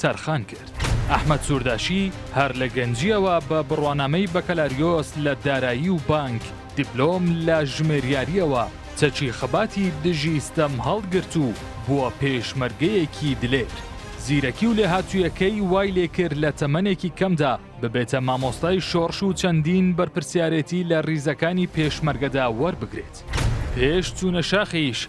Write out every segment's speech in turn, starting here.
تەرخان کرد. ئەحمەد سورداشی هەر لە گەنجییەوە بە بڕوانامەی بەکەلاریۆس لە دارایی و بانک، دیپلۆم لە ژمێریارییەوە چەکی خەباتی دژی ستەم هەڵگرت و بووە پێشمەرگەیەکی دلێر. زیرەکی و لێهاتوویەکەی وای لێکرد لە تەمەنێکی کەمدا ببێتە مامۆستای شۆڕش و چەندین بەرپرسیارێتی لە ریزەکانی پێشمەرگەدا وەربگرێت. پێش چوونە شاخیش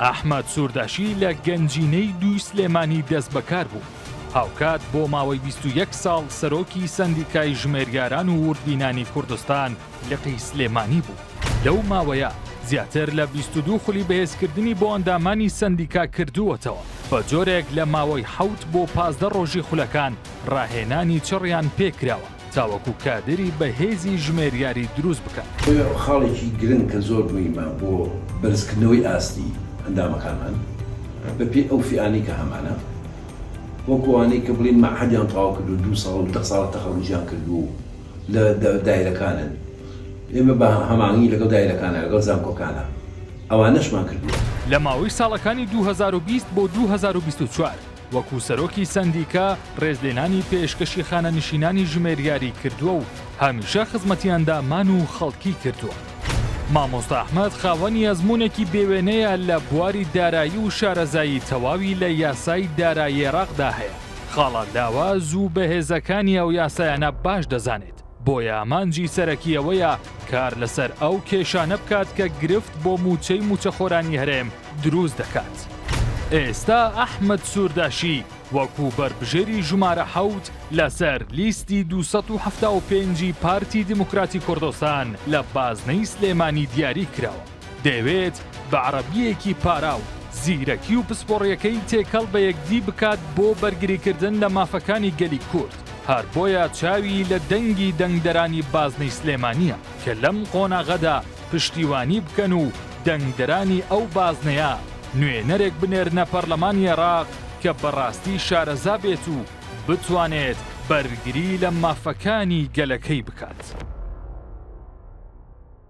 ئەحمەد سورداشی لە گەنجینەی دووی سلێمانی دەستبەکار بوو، هاوکات بۆ ماوەی 21 ساڵ سەرۆکی سەندیکای ژمێریاران و وردبینانی کوردستان لقی سلێمانی بوو، لەو ماوەیە زیاتر لە 22 خولی بەهێزکردنی بۆ ئەندامانی سەندیکا کردووەتەوە، بەجۆرێک لە ماوەی حەوت بۆ پازدە ڕۆژی خولەکان ڕاهێنانی چڕیان پێکراوە. تاوەکو کادیری بەهێزی ژمێریاری دروست بکەن. چونکە خاڵێکی گرنگ کە زۆر موهیمە بۆ بەرزکردنەوەی ئاستی ئەندامەکانمان بە پێی ئەو فئانەی کە هەمانە وەکو ئەوانەی کە بڵێین مەعهەدیان تەواو کردوو دوو ساڵ و دە ساڵە تەخەروجیان کردوو و لە دایرەکانن ئێمە بە هەماهەنگی لەگەڵ دایرەکانا لەگەڵ زانکۆکانا ئەوانەشمان کردووە. لە ماوەی ساڵەکانی دوو هەزار و بیست بۆ دوو هەزار و بیست و چوار. وەکو سەرۆکی سەندیکا ڕێزلێنانی پێشکەشی خانەنشینانی ژمێریاری کردووە و هەمیشە خزمەتیاندا مان و خەڵکی کردووە. مامۆستا ئەحمەد خاوەنی ئەزمونێکی بێوێنەیە لە بواری دارایی و شارەزایی تەواوی لە یاسای دارایی عێراقدا هەیە، خاڵە لاواز و بەهێزەکانی ئەو یاسایانە باش دەزانێت، بۆیە ئامانجی سەرەکی ئەوەیە کار لەسەر ئەو کێشانە بکات کە گرفت بۆ موچەی موچەخۆرانی هەرێم دروست دەکات. ئێستا ئەحمەد سورداشی وەکو بەربژێری ژمارە حەوت لەسەر لیستی دوو سەد و حەفتا و پێنج ی پارتی دیموکراتی کوردستان لە بازنەی سلێمانی دیاری کراوە. دەیەوێت بە عەڕەبییەکی پاراو زیرەکی و پسپۆڕییەکەی تێکەڵ بە یەکدی بکات بۆ بەرگریکردن لە مافەکانی گەلی کورد. هەر بۆیە چاوی لە دەنگی دەنگدەرانی بازنەی سلێمانییە کە لەم قۆناغەدا، پشتیوانی بکەن و دەنگدەرانی ئەو بازنەیە نوێنەرێک بنێرنە پەرلەمانی عێراق کە بەڕاستی شارەزا بێت و بتوانێت بەرگری لە مافەکانی گەلەکەی بکات.